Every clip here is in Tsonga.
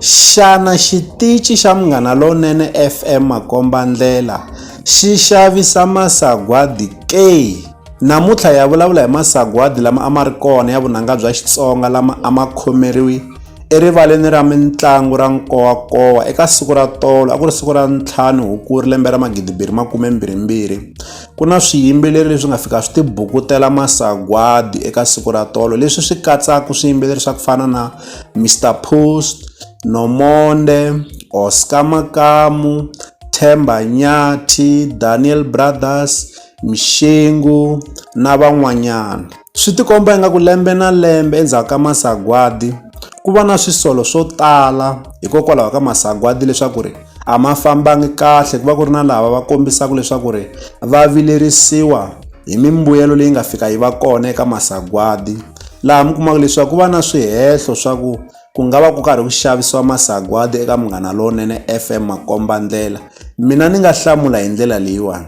Xana xitichi xa Munghana Lonene FM Makombandlela xi xavisa masagwadi ke? Namuntlha hi ya vulavula hi masagwadi lama a ma ri kona ya vunanga bya Xitsonga lama a ma khomeriwi erivaleni ra mitlangu ra Nkowankowa eka siku ra tolo a ku ri siku ra ntlhanu Hukuri lembe ra magidimbirhi makume mbirhi mbirhi. ku na swiyimbeleri leswi nga fika swi tibukutela masagwadi eka siku ra tolo leswi swi katsaka swiyimbeleri swa ku fana na mr post nomonde oscar makamu themba nyathi daniel brothers mixingu na van'wanyana Swi tikomba ingaku lembe na lembe endzhaku ka masagwadi ku va na swisolo swo tala hikokwalaho ka masagwadi leswaku ri a ma fambangi kahle ku va ku ri na lava va kombisaka leswaku ri va vilerisiwa hi mimbuyelo leyi nga fika yi va kona eka masagwadi laha mi kumaka leswaku ku va na swihehlo swa ku ku nga va ku karhi ku xavisiwa masagwadi eka Munghana Lonene F_M makombandlela mina ni nga hlamula hi ndlela leyiwani.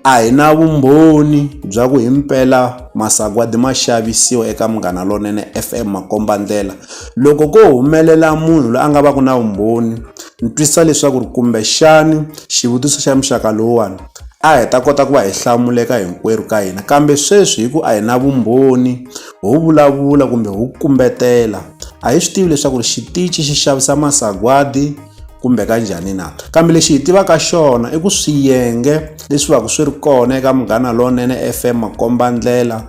A hi na vumbhoni bya ku himpela masagwadi ma xavisiwa eka Munghana Lonene F_M makombandlela. Loko ko humelela munhu loyi a nga va ku na vumbhoni ni twisisa leswaku ri kumbexani xivutiso xa muxaka lowuwani a hi ta kota ku va hi hlamuleka hinkwerhu ka hina, kambe sweswi hi ku a hi na vumbhoni ho vulavula kumbe ho kumbetela a hi swi tivi leswaku ri xitichi xi xavisa masagwadi. kumbe ka njhani na kambe lexi hi tivaka xona i ku swiyenge leswi va ku swi ri kona eka munghana lowunene fm makombandlela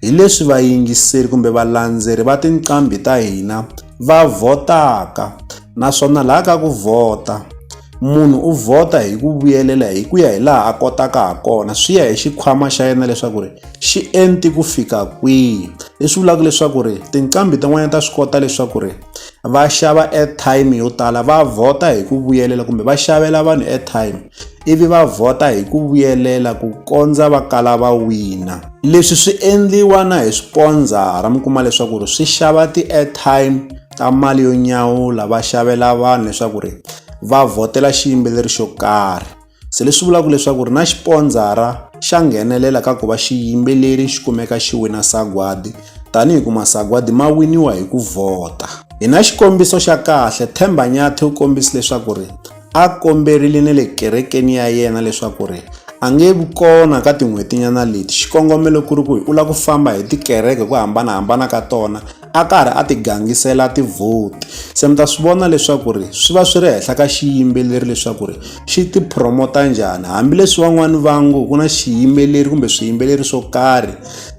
hi leswi vayingiseri kumbe valandzeri va tinqambi ta hina va vhotaka naswona laha ka ku vhota munhu u vhota hi ku vuyelela hi ku ya hi laha a kotaka ha kona swi ya hi xikhwama xa yena leswaku ri xi enti ku fika kwihi leswi vulaka leswaku ri tinqambi tin'wanyana ta swi kota leswaku ri va xava airtime yo tala va vhota hi ku vuyelela kumbe va xavela vanhu airtime ivi va vhota hi ku vuyelela ku kondza va kala va wina leswi swi endliwa na hi swipondzara mi kuma leswaku ri swi xava ti-airtime ta mali yo nyawula va xavela vanhu leswaku ri va vhotela xiyimbeleri xo karhi Se leswi vulaka leswaku ri na xipondzara xa nghenelela ka ku va xiyimbeleri xi kumeka xi wina sagwadi tanihi ku masagwadi ma winiwa hi ku vhota. Hi na xikombiso xa kahle, Themba Nyathi u kombise leswaku ri a komberile na le kerekeni ya yena leswaku ri a nge vi kona ka tin'hwetinyana leti xikongomelo ku ri ku hi u lava ku famba hi tikereke ku hambanahambana ka tona a karhi a ti gangisela ti vote se mi ta swi vona leswaku ri swi va swi ri henhla ka xiyimbeleri leswaku ri xi ti promote njhani hambileswi van'wani va ngo ku na xiyimbeleri kumbe swiyimbeleri swo karhi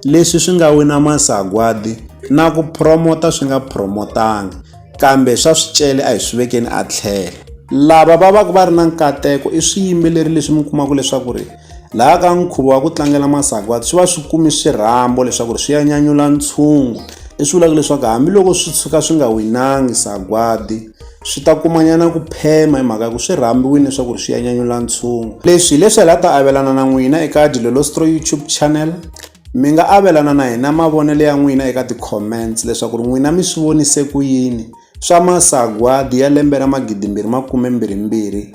leswi swi nga wina masagwadi na ku promote swi nga promotanga kambe swa swicele a hi swi vekeni a tlhelo lava va va ku va ri na nkateko i swiyimbeleri leswi mi kumaka leswaku ri Laha ka nkhuvo wa ku tlangela masagwadi swi va swi kume swirhambo leswaku ri swi ya nyanyula ntshungu leswi vulaka leswaku hambiloko swi tshuka swi nga winangi sagwadi swi ta kumanyana ku phema hi mhaka ya ku swi rhambiwile leswaku ri swi ya nyanyula ntshungu leswi hileswi hi la ta avelana na n'wina eka dilolostro youtube channel mi nga avelana na hina mavonelo ya n'wina eka ti-comments leswaku ri n'wina mi swi vonise ku yini swa masagwadi ya lembe ra magidimbirhi makume mbirhi mbirhi